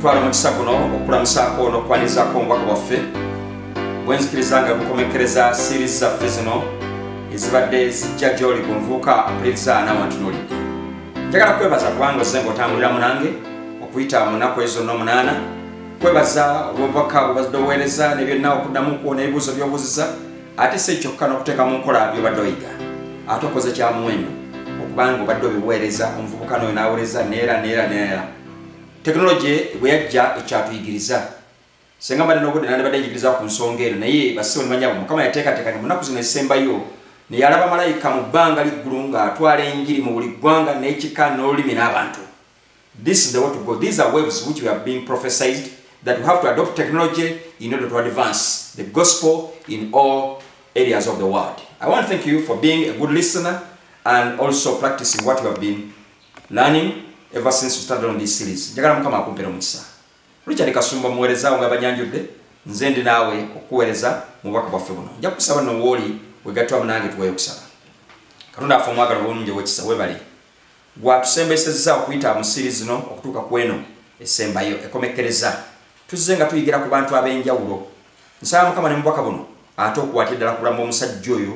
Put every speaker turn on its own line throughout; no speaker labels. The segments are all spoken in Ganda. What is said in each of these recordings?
twala omukisa guno okukulamusaako n'okukwanizaako omubaka bwaffe bwenzikiriza nga bukomekkereza siirizi zaffe zino ezibadde zijja gy'oli ku nvuuka apuliriza n'awantunuli njagala kwebaza kubanga ozze ng'otambulira munange okuyita mu nnaku ezo n'omunaana kwebaza olw'obubaka bwebazidde obuweereza ne byonna okuddamu kwo n'ebibuuzo by'obuuziza ate si ekyokka n'okuteeka mu nkola byobadde oyiga ate okoze kya muwendo okubanga obadde obiweereza omuvubuka n'oyo n'awuliriza neera neera neera tekinologi bwe yajja ekyatuyigiriza senga mbadde n'obudde nandibadde njigiriza ku nsonga eno naye basibo ne banyabo mukama yateekateeka ne munaku zino ezisembayo ne yalaba malayika mu bbanga liggulu ng'atwala enjiri mu buli ggwanga n'ekika n'olulimi n'abantu this is the way to go these are waves which we have been prophesized that we have to adopt technology in order to advance the gospel in all areas of the world i want to thank you for being a good listener and also practicing what you have been learning ever since we started on this series njagala mukama akumpera omukisa richard kasumba muweerezaawo nga banyanjudde nze ndi naawe okukuweereza mu bubaka bwaffe buno nja kukusaba no wooli wegattwamu nange tuweeyo okusaba katonda affe omwagala obulungi owekisa webale gwatusembesezza okuyita mu siri zino okutuuka ku eno esembayo ekomekkereza tuzze nga tuyigira ku bantu ab'enjawulo nsaba mukama ne mubaka buno ate okuwatira ddala kulamba omusajja oyo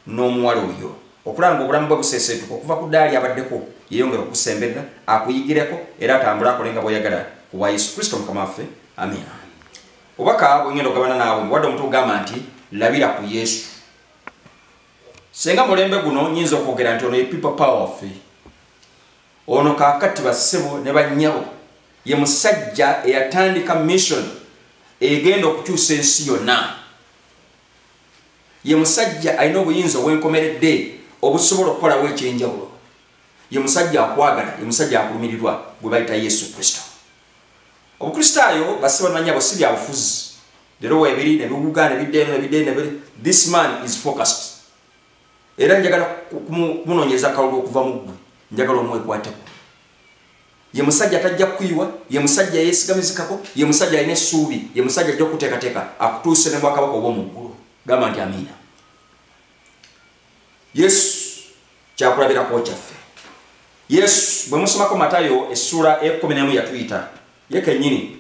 n'omuwala oyo okulaba nga obulamu bwe buseeseetuka okuva ku ddaali abaddeko yeeyongera okusemberera akuyigireko era atambule akole nga bw'oyagala ku bwa yesu kristo mukama waffe amiina obubaka bwengenda okugabana naawe muwadde omuntu ogamba nti labira ku yesu senga mulembe guno nyinza okwogera nti ono ye people power waffe ono kakati bassebo ne bannyabo ye musajja eyatandika mission egenda okukyusa ensi yonna ye musajja alina obuyinza obwenkomeredde obusobola okukolawo ekyenjawulo ye musajja akwagala ye musajja akulumirirwa gwe bayita yesu kristo obukristaayo basibamanya bwe si bya bufuzi lero webiri nebiwuga nebideeno nebideeno this man is focused era njagala kumunonyeza kalulu okuva mu ggwe njagala omwekwateko ye musajja tajja kuyiwa ye musajja yesigamizikako ye musajja alina essuubi ye musajja ajja okuteekateeka akutuuse ne bwakabaka obwo mu ggulu gamba nti amiina yesu kyakulabirako kyaffe yesu bwe musomako matayo essuula ekumi nemu yatuyita ye kennyini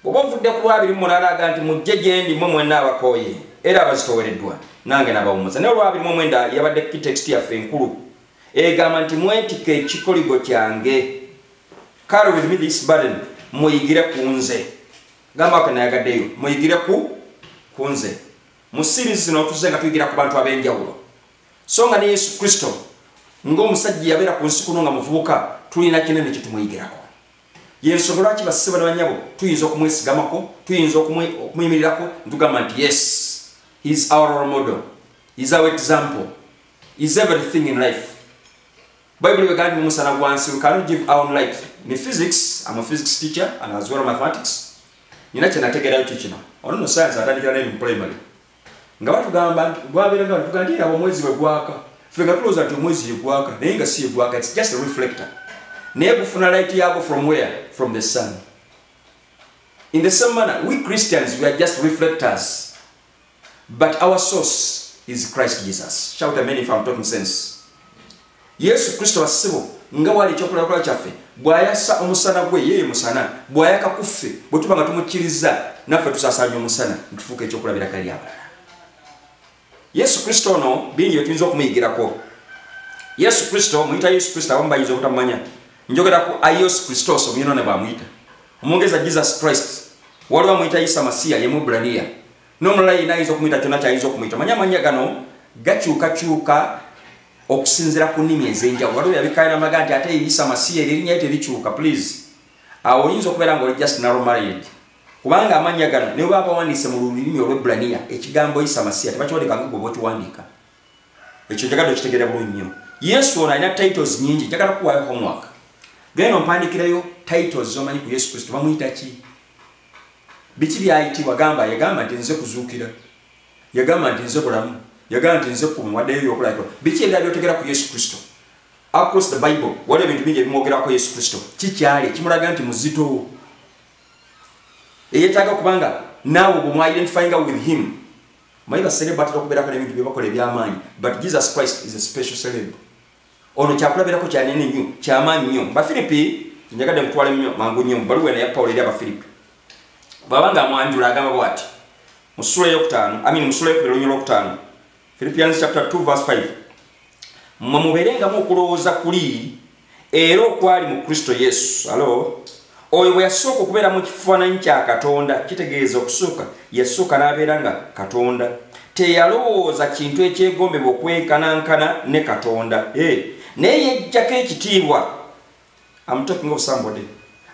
bweoba ovudde ku lwabiri munalaaga nti mujje gyendi mwe mwena abakooye era abazitowereddwa nange nabawumuza naye olwabiri mu omwenda yabadde kitext yaffe enkulu egamba nti mwetika ekikoligo kyange kale with me this burden muyigire ku nze gamba wake nayagaddeyo muyigire ku ku nze mu sirizi zino tuze nga tuyigira ku bantu ab'enjawulo so nga ne yesu kristo ng'omusajja yabeera ku nsi kuno nga muvubuka tulina kinene kye tumuyigirako yensonga lwaki basiba ne banyabo tuyinza okumwesigamako tuyinza okumuyimirirako ntugamba nti yes is our model is our example is everything in life bible begambi mumusana gwansi we cannot give our own life ne physics am a physics teacher and as well as mathematics nina kyenategerayo kikino ono no science atandikira naye mu primary nga batugamba gwabera nga batugamba nti abo mwezi wegwaka fe nga tulowooza nti omwezi yegwaka naye nga si yegwaka it's just a reflector naye gufuna light yago from where from the sun in the same manner we christians we are just reflectors but our source is christ jesus shout amen if i'm talking sense yesu kristo wasibo nga wali ekyokulakola kyaffe bwayasa omusana gwe yeye musana bwayaka kuffe bwe tuba nga tumukkiriza naffe tusasanya omusana ntufuuka ekyokulabira kali abalala yesu kristo ono bingi byetuyinza okumuyigirako yesu kristo muyita yesu kristo abamu bayinza obutamumanya njogera ku aios kristos omuyona ne bwamuyita omwongeza jesus christ waliwo amuyita isa masiya ye mubraniya n'omulala yina ayinza okumuyita kyona kyayinza okumuyita manya amanya gano gakyukakyuka okusinzira ku nnimi ez'enjawulo waliwo yabikaira mulaga nti ate isa masiya eri erinyayo terikyuka please awo oyinza okubeera nga oli just naromaried kubanga amannya gano ne baba bawandiise mu lulimi olwebraniya ekigambo isa masiya tebakiwandika nga gwe bwokiwandiika ekyo njagala okitegera bulungi nnyo yesu ono alina titles nyingi njagala kuwayo homework genda ompandikirayo titles zomanyi ku yesu kristo bamuyita ki biki byayitibwa gamba yagamba nti nze kuzuukira yagamba nti nze bulamu yagamba nti nze kumu waddeyo byokulabika biki ebira byotegera ku yesu kristo across the bible waliwo ebintu bingi ebimwogerako yesu kristo kikyali kimulaga nti muzito eyetaaga kubanga naawe bwemwaidentifinga with him Mai ba celeb batira kubera ko nebintu byebakole byamanyi but Jesus Christ is a special celeb. Ono kyakula bera ko kyane ne nyu kyamanyi nyo. Ba Philippi nyaga dem twale nyo mangu nyo balu wena ya Paul ya ba Philippi. Baba nga mwanjula agamba bwati. Musura yo kutano, I mean musura yo kubera nyo kutano. Philippians chapter 2 verse 5. Mwa muberenga mu kulowoza kuli era okwali mu kristo yesu alo oyo bwe yasooka okubeera mu kifaananyi kya katonda kitegeeza okusooka yasooka n'abeera nga katonda teyalowooza kintu ekyegombebwa okwenkanankana ne katonda eh, naye yejjako ekitiibwa amutokinga obusambode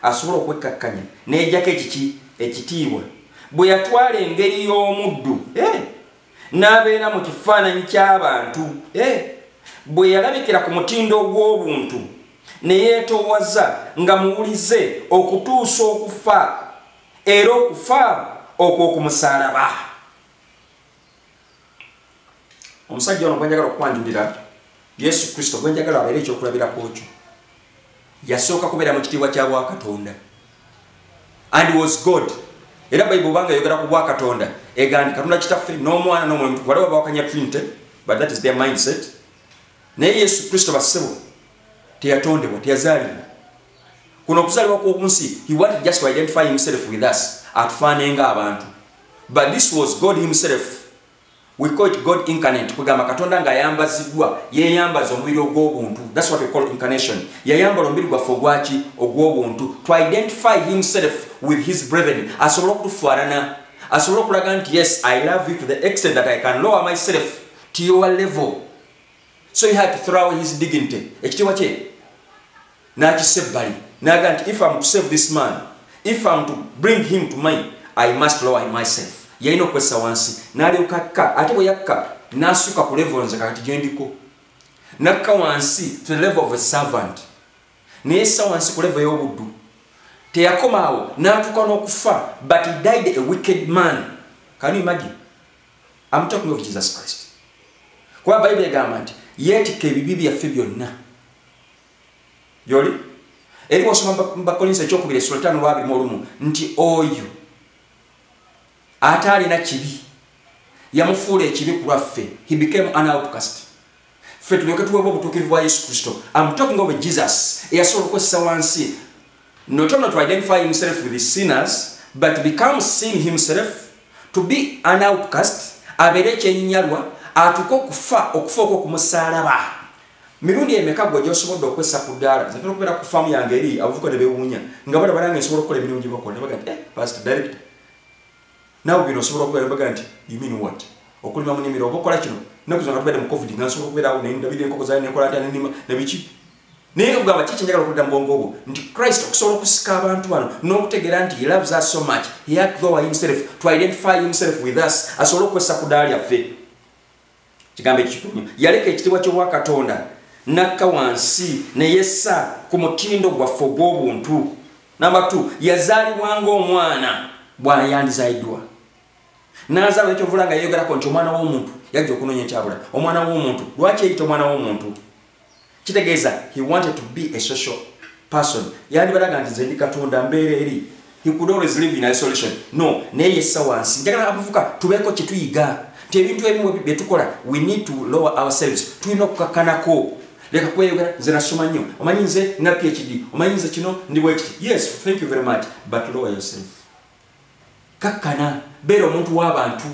asobola okwekkakkanya neyejjako ekiki ekitiibwa bwe yatwala engeri y'omuddu eh, n'abeera mu kifaananyi ky'abantu eh, bwe yalabikira ku mutindo ogw'obuntu ne yeetoowaza nga muwulize okutuusa okufa era okufa okw'okumusalaba omusajja ono gwenjagala okukwanjulira yesu kristo gwenjagala abeere ekyokulabirako kyo yasooka kubeera mu kitiibwa kya bwakatonda and was god era bayibuli obanga yogera ku bwakatonda egandi katonda kitaffe n'omwana n'omwoyo mutukuvu waliwo bawakanya trinity but that is their mindset naye yesu kristo bassebo teyatondebwa teyazaalibwa kuno okuzaalibwa kwokunsi he wanted just to identify himself with us atufaanenga abantu but this was god himself We call it God incarnate. Kugamba Katonda nga yambazidwa, ye yambaza omubiri ogw'obuntu. That's what we call incarnation. Ya yambala omubiri gwa fogwachi ogw'obuntu. To identify himself with his brethren. Asobola kutufuarana. Asobola kulaga nti yes, I love you to the extent that I can lower myself to your level. So he had to throw his dignity. Ekitiwa kye. n'akisa ebbali n'agamba nti if am to save this man if am to bring him to my i must lower him myself yalina okukozesa wansi n'alyoka akka ate bwe yakka n'asuka ku level nze kakati gye ndiko n'akka wansi to the level of a servant naye ssa wansi ku level y'obuddu teyakomaawo n'atuuka n'okufa but he died a wicked man can you imagine am talking of jesus christ kuba bayibuli egamba nti yeetikka ebibi byaffe byonna gyoli eri wasoma bakolinsa ekyokubira esula tano lwabiri mulumu nti oyo ate alina kibi yamufuula ekibi ku lwaffe he became an outcast ffe tulyoke tuweebwa obutuukirivu bwa yesu kristo am talking of jesus eyasobola okukozesa wansi not only to identify himself with the sinners but become sin himself to be an outcast abeere ekyenyalwa atuke okufa okufa okwo kumusalaba Mirundi emeka gwe gyosobodde okwessa ku ddaala nze ntera okubeera ku faamu yange eri abavubuka ne beewuunya nga balaba nange nsobola okukola emirimu gye bakola ne bagamba nti eh pastor director naawe bino osobola okubeera ne bagamba nti you mean what okulima mu nnimiro oba okola kino nnaku zino nga tubeere mu covid nga nsobola okubeeraawo ne ndabira enkoko zaali ne nkola ntya ne nnima ne biki naye nga kugamba kiki njagala okudda mu bwongo obwo nti christ okusobola okusika abantu bano n'okutegeera nti he loves us so much he had to go himself to identify himself with us asobole okukozesa ku ddaala lyaffe kigambo ekikulu nyo yaleka ekitibwa kyobwa katonda nakka wansi neyessa ku mutindo gwaffe ogw'obuntu namba t yazaalibwa ngaomwana bwayandizaiddwa nazaala ekyovula nga yeyogerako nti omwana w'omuntu yajja okunoonya ekyabula omwana w'omuntu lwaki eyita omwana w'omuntu kitegeeza he wanted to be a social person yandibalaga nti nze ndi katonda mbeera eri he could always live in isolation no naye yessa wansi njagala abavuka tubeeko kye tuyiga nti ebintu ebimu bye tukola we need to lower ourselves tulina okukakkanako leka kweyogera nze nasoma nnyo omanyi nze na phd omanyi nze kino ndi bwekiti yes thank you very much but lower yourself kakkana beera omuntu w'abantu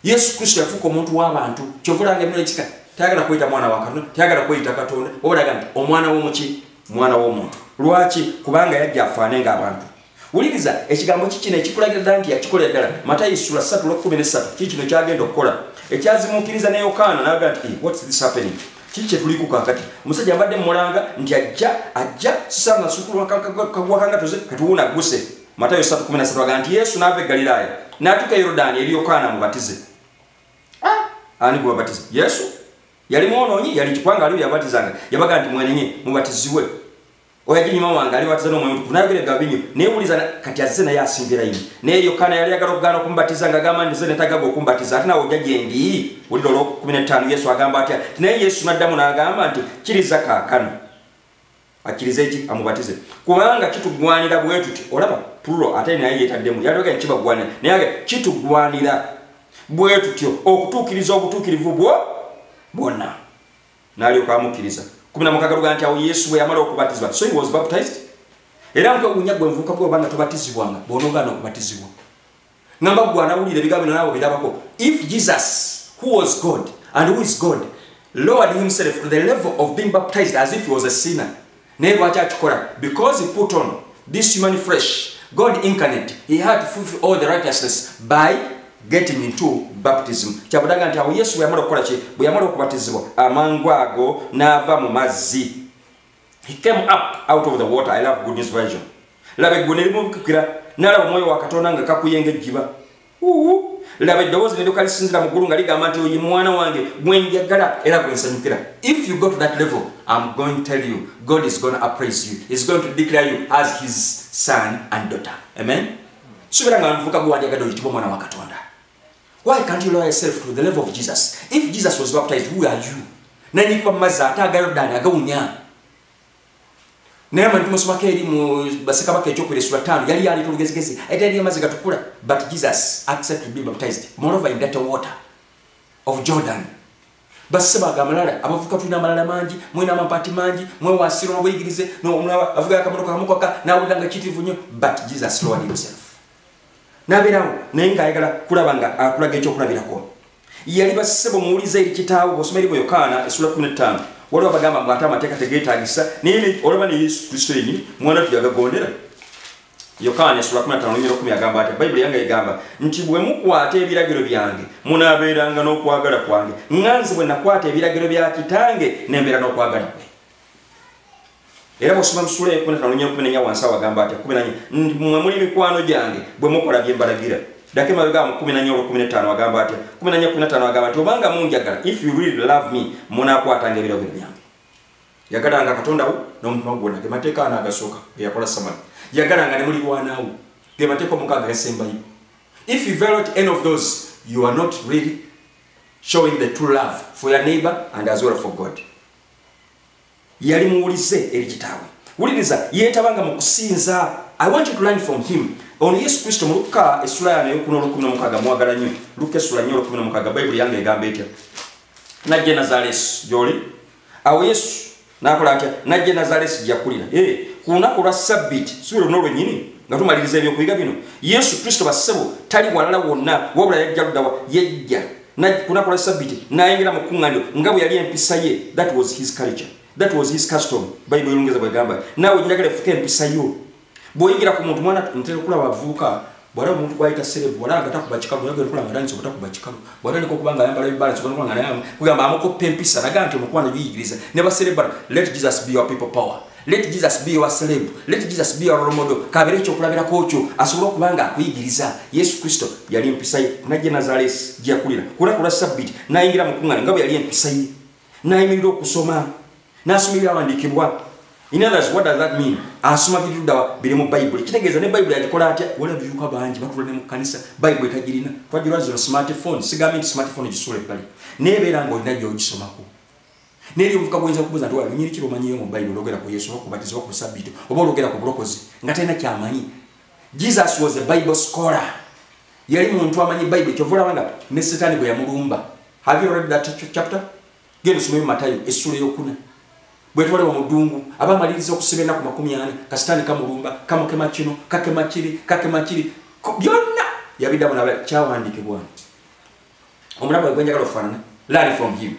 yesu kristo yafuuka omuntu w'abantu kyovulanga emino ekika tayagala kweyita mwana wa katonda tayagala kweyita katonda obulaga nti omwana w'omuki mwana w'omuntu lwaki kubanga yajja afaane ng'abantu wuliriza ekigambo kikino ekikulagira ddala nti yakikolera ddala matayi sula 3 lwkumi nesatu kii kino kyagenda okukola ekyazimuukiriza ne yokaana naga nti eh, whats this happening kii kyetuliku kakati omusajja mbadde mumulanga nti ajja ajja sisaana nasukulwa kagwakangatoze katuwuuna guse matayo 3:13 agamba nti yesu n'ava e galilaaya n'atuuka e yorudaani eri yokaana mubatize ah! ani gwe babatiza yesu yali mwonoonyi yali kikwanga aliwo yabatizanga yabaga nti mwenenye mubatizibwe oyo ajja enyuma wange alibatiza n'omwoyo mutukuvu nayogera ebigambo binyo naye wuliza kati azze naye asingira yini naye yokaana yali ayagala okugaana okumbatiza nga agamba ndize netagaga okumbatiza ate nawe ojja gyendi wulira olwokumi n'ettaano yesu agamba atya naye yesu n'addamu n'agamba nti kiriza kaakano akirize ki amubatize kubanga kitugwanira bwetuti olaba plural ate naye yetaddemu yalibagani kibagwanira naye aga kitugwanira bwetutyo okutuukiriza obutuukirivu bwo bwonna nalyoka amukkiriza kumi na mukaga luga nti awo yesu bwe yamala okubatizibwa so he was baptized era nkwewunya gwe nvuuka gwe obanga tobatizibwanga bwonogaana okubatizibwa ngamba gwe anawulira ebigambo bino nawe birabako if jesus who was god and who is god lowered himself to the level of being baptized as if he was a sinner naye lwaki akikola because he put on this human fresh god incarnate he had to fulfill all the righteousness by getting into baptism kyabudaga nti awo yesu bweyamala okukola ki bweyamala okubatizibwa amangu ago n'ava mu mazzi he came up out of the water i love good news version laba eggulu nelimubukukira nalaba omwoyo wa katonda nga kakuyenga ejjiba laba eddoboozi neduka lisinzira mu ggulu nga ligamba nti oyi mwana wange gwenjagala era gwensanyukira if you go to that level im going tell you god is gonna appraise you is going to declare you as his son and daughter amen subira nga nvuka gwanjagada oyi kiba omwana wa katonda Why can't you lower yourself to the level of Jesus? If Jesus was baptized, who are you? Nani kwa maza ata gayo dani aga unya. Naye mani tumo sumake ili mu basika wake choku ile sura tano. Yali yali tulu gezi gezi. Eta yali yamazi gatukula. But Jesus accepted to be baptized. Moreover in that water of Jordan. Basi seba aga malala. Abafuka tuina malala manji. Mwina mampati manji. Mwe wa siro mwe igirize. No umuna wa. Afuka ya kamoto kwa hamuka ka. Na ulanga chiti vunyo. But Jesus lowered himself. nabeerawo naye ng'ayagala kulaba nga akulaga ekyokulabirako yali basebo muwuliza eri kitaawo bwosoma eri bweyokaana esula 15 waliwo abagamba mbu ate amateeka tegeetagisa naye olaba ne yesu kristo yenyini mwana tu yagagondera yokaana esula 15 agamba ati bayibuli yange egamba nti bwe mukwata ebiragiro byange munaabeeranga n'okwagala kwange nga nze bwe nakwata ebiragiro bya kitange nembeera n'okwagala kwe era bwosoma musula ekumi natano nya kumi nenya wansi awagamba atya kumi nanya mwe muli mikwano gyange bwe mukola bye mbalagira dako emabega mu kumi nanya olwo kumi netano agamba atya kumi nanya kumi natano agamba nti obanga munjagala if you really love me munakwatanga ebirabo byange yagalanga katonda wo n'omutima gwona ge mateeka ana agasooka ge yakola samala yagalanga ne mulirwanaawo ge mateeka omukaaga gasembayo if you violate any of those you are not really showing the true love for your neighbor and as well for god yali muwulize eri kitaawe wuliriza yeetabanga mu kusinza i want you to learn from him ono yesu kristo mu lukka essula yano eyokuna olukumi nomukaga mwagala nnyo lukka essula nnyo olukumi nomukaga bayibuli yange egamba etya najja nazaleesi gyoli awo yesu nakola atya najja nazaleesi gyakulira eh, ku lunaku olwa sabbiti si lwonna olwenyini nga tumaliriza ebyokuyiga bino yesu kristo bassebo tali walala wonna wabula yajja ludawa yajja kunaku lwa sabbiti nayingira mu kuŋŋaniro nga bwe yali empisa ye that was his culture that was his custom bayibuli olungereza bwegamba naawe njagala efuka empisa yo bw'oyingira ku muntu mwana ntera okulaba avuuka bwala omuntu gwayita serebu wala nga takuba kikalu naye gwenkula nga tandisa obutakuba kikalu bwatandika okuba nga ayambala ebibala kikalu nga naye kugamba amukoppa empisa naga nti omukwano biyigiriza ne baserebala let jesus be your people power let jesus be your celeb let jesus be your romodo kabere ekyokulabirako kyo asobole okuba nga akuyigiriza yesu kristo yali empisa ye najja nazalesi gyeyakulira kulaku lwa sabbiti nayingira mukuŋŋana nga bwe yali empisa ye nayimirira okusoma nasoma ebyawandiikibwa in others what does that mean asoma birudawa biri mu bayibuli kitegeeza ne bayibuli agikola atya wala biuka bangi batula ne mu kkanisa bayibuli tagirina twajulwa zino smartphone sigambye nti smartphone gisuula ebbali naye beera ngaolina gyogisomako naye eri obuvuka bwoyinza kubuuza nti walinyeri kiro omanyiyo mu bayibuli ologera ku yesu oba kubatiza oba ku sabbiti oba ologera ku bulokozi nga talina kyamanyi jesus was a bible scholar yali muntu amanyi bayibuli kyova olaba nga ne setaani bwe yamulumba have you read that chapter genda osomeyo matayo essula eyokuna bwetwalewa mudungu aba amaliriza okusiba enaku makumi ana kasitaani kamulumba kamukema kino kakema kiri kakema kiri byonna yabiddamu naba kyawandikibwa nti omulamu we gwenjagala okufaanana learn from him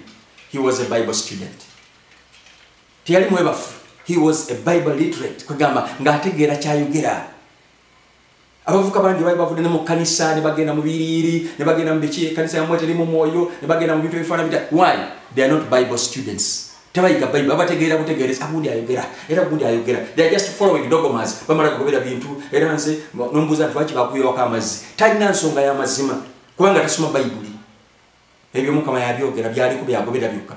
he was a bible student teyali mwebafu he was a bible literate kwegamba ng'ategeera kyayogera abavuka bangi bali bavudde ne mu kanisa ne bagenda mu biriiri ne bagenda mu biki ekanisa yamwe terimu mwoyo ne bagenda mu bintu ebifaana bita why they are not bible students tebayiga bible babategeera butegeereza agundi ayogera era gundi ayogera they are just following dogomas bamala kugobera bintu era nze nombuuza nti lwaki bakuyiwako amazzi talina nsonga y'amazima kubanga tasoma bayibuli ebyo mukama yabyogera byaliko byagobera byokka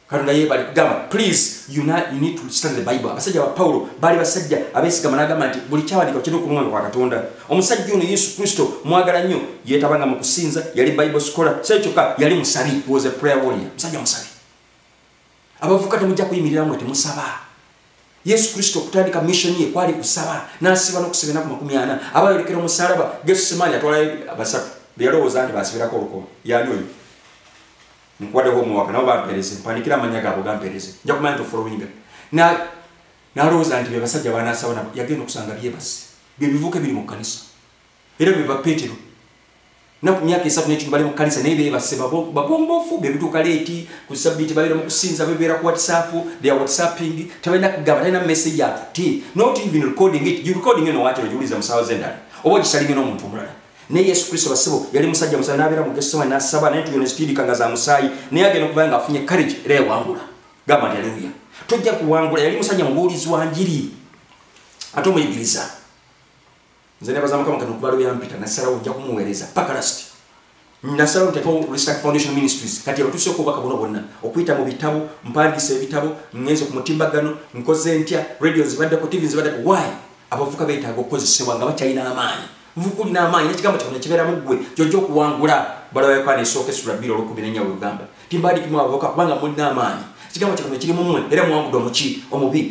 katonda yebali kugamba please you, not, you need to stand the bible abasajja ba pawulo baali basajja abesigama nagamba nti buli kyawandika kirina okumwanga kwa katonda omusajja ono yesu kristo mwagala nnyo yetabanga mu kusinza yali bible scholar sekyoka yali musabi was a prayer warrior musajja musabi abavuka temujja kuyimirira mwe temusaba yesu kristo okutandika missioni ye kwali kusaba nasiba nokusiba enaku makumi ana abayolekera omusalaba gesu semaani atwala basatu beyalowooza nti basibirako olukomo yani oyo nkuwadeho omuwaka nabo bampereze mpandikira amanya gaabo gampereze nja kumanya nti ofolowinga nalowooza nti bebasajja banasaba yagenda okusanga byebasi byebivuka ebiri mu kanisa era be ba petero naku myaka esatu nekintu bali mukanisa naye bebase bagombofu bebituuka leeti ku sabiti babeera mu kusinza bebeera ku whatsapp they are whatsapping tebalina kugamba talina message atuti not even recording it you recording eno wakyo ogiwuliza mu saawa z'endala oba ogisalinga n'omuntu omulala naye yesu kristo basebo yali musajja musaayi nabeera mu gesoma nasaba naye tuyona zitiirika nga za musaayi naye agenda okuba nga afunye courage era yawangula gamba nti aleluya tojja kuwangula yali musajja mubuulizi wa njiri ate omuyigiriza nze nebaza mukama kati okuva lwe yampita nasalawo ojja kumuweereza paka lasiti nasalawo nteekawo restack foundation ministries kati abatuuseeko obubaka buno bwonna okuyita mu bitabo mpandiisa ebitabo ngenze ku mutimbagano nkoze ntya radio zibaddeko tv zibaddeko wy abavuka beetaaga okukozesebwa nga bakyalina amaanyi nvuka olina amaanyi nekigambo kikona kibeeramu ggwe gyojja okuwangula balabayokwana esooka esula bbiri olwokumi nenya wegamba timbaadikimu abavuka kubanga mulina amaanyi ekigambo kikona kiri mumwe era muwangudde omuki omubi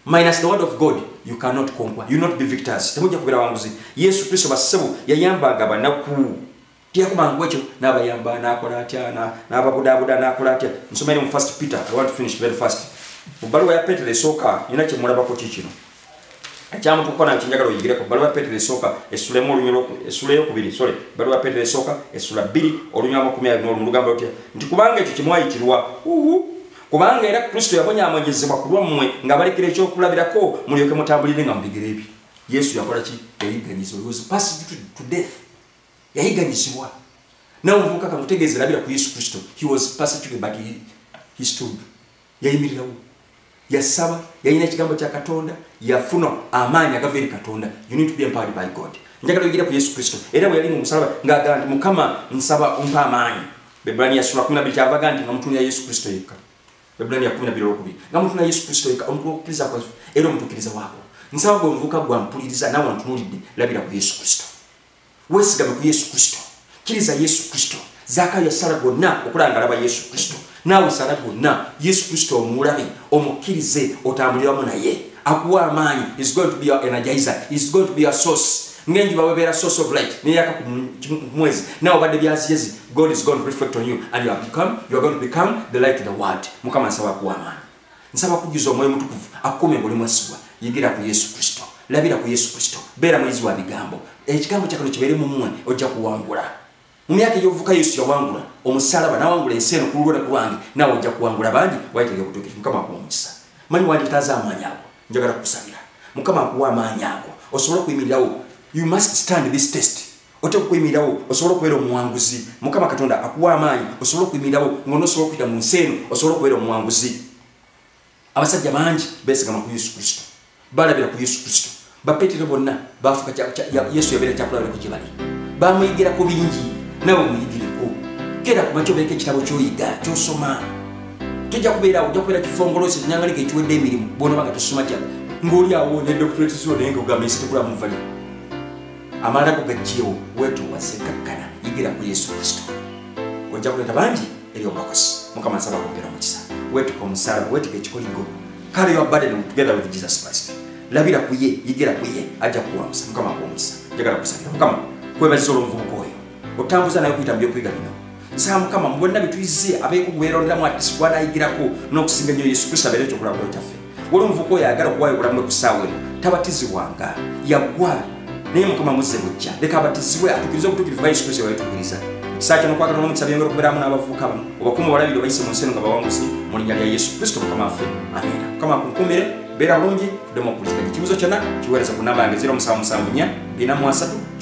minus the word of god you cannot conquer you not be victors temujja kubeera wanguzi yesu kristo bassebo yayambanga abanaku teyakumangu ekyo n'abayamba n'akola atya n'ababudaabuda n'akola atya nsomere mu first peter i want to finish very fast mu bbaluwa ya petero esooka nina kyemulabako ki kino ekyamutukuko nayo kyenjagala oyigireko bbaluwa ya petero esooka esulemu olunyolo esula eyokubiri sole bbaluwa ya petero esooka esula bbiri olunyolo amakumi abiri n'olumu lugamba lutya nti kubanga ekyo kyemwayitirwa uhu kubanga era kristo yabonyaamonyezebwa ku lwammwe nga balekera ekyokulabirako mulyoke mutambulire nga mubigere ebyo yesu yakola ki yayiganyizibwa he was passed to, to death yayiganyizibwa nawe ovuka kamutegeeza labira ku yesu kristo he was passed to the but he, he stood yayimirirawo yasaba yalina ekigambo kya katonda yafuna amaanyi agava eri katonda you need to be empowered by god njagala oyigira ku yesu kristo era bwe yali mu musalaba ng'agamba nti mukama nsaba ompa amaanyi Bebbulaniya sura kumi nabiri kyava ga nti nga mutunira Yesu Kristo yekka. Bebbulaniya kumi nabiri olwokubiri nga mutunira Yesu Kristo yekka omukulu w'okukkiriza kwaffe era omutuukiriza waako. Nsaba gwe omuvuka gwa mpuliriza nawe ntunuulidde labira ku Yesu Kristo. Weesigame ku Yesu Kristo. Kkiriza Yesu Kristo. Zaaka yasala gwonna okulaba nga alaba Yesu Kristo. Naawe sala gwonna Yesu Kristo omulabe omukkirize otambuliramu naye. Akuwa amaanyi is going to be our energizer is going to be our source. ngenjuba webeera source of light neyaka kumwezi nawe obadde byaziyezi god is going to reflect on you and you have become, you are going to become the light in the world mukama nsaba kuwa amaanyi nsaba kujjuza omwoyo mutukuvu akukume ngoli mwesigwa yigira ku yesu kristo labira ku yesu kristo beera muyizi wa bigambo ekigambo kyakano kibeere mumwe ojja kuwangula mu myaka egy'obuvuka yesu yawangula omusalaba nawangula ensi eno kululwo ne kulwange naawe ojja kuwangula bangi wayitega obutuukivu mukama akuwa omukisa manyi wanditaaza amaanyi ago njagala kukusabira mukama akuwa amaanyi ago osobole okuyimirirawo you must stand this test oteeka okuyimirirawo osobole okubeera omuwanguzi mukama katonda akuwa amaanyi osobole okuyimirirawo ng'onosobola okuyita mu nsi eno osobole okubeera omuwanguzi abasajja bangi besigama ku yesu kristo balabira ku yesu kristo bapetero bonna bafuka yesu yabeera kyakulabira ku gyebali bamuyigira ku bingi nawe muyigireko kera kuba kyobeereka ekitabo kyoyiga kyosoma tojja kubeerawo ojja kubeera kifongolosi enyangalika ekiwedde emirimu bwonoba nga tosoma kya ngaoli awo ne doctorate zo naye nga ogamba ensi tekula muvali amalala go gajjewo wetowase kakkana yigira ku yesu kristo ojja kuleeta bangi eri obulokozi mukama nsaba kwongera omukisa wetuka omusalaba wetuka ekikoligo kale your burden together with jesus christ labira ku ye yigira ku ye ajja kuwambusa mukama akuwa omukisa njagala kusabira mukama kwebaziza olwomuvubuka oyo otambuza naye okuyita mu byokuyiga bino nsaba mukama mu bonna bye tuyize abeekugwerondamu ati sikwanayigirako n'okusinga nnyo yesu kristo abeere ekyokulabula kyaffe wali omuvuka oyo ayagala okuwayo obulamu bwe ku ssaawa eno tabatizibwanga yaggwa naye mukama muzze bujja leka abatizibwe atukirize obutukirivu bwa yesu kristo bwebatukiriza ekisaa kyono kwagala n'omukisa byongera okubeeramu n'abavubuka bano obakuuma obalabire obayise mu nsi eno nga bawanguzi mu linnya lya yesu kristo mukama waffe amiina mukama akunkuumire beera bulungi demu okuwuliziganya ekibuzo kyonna kiweereza ku namba yange 0774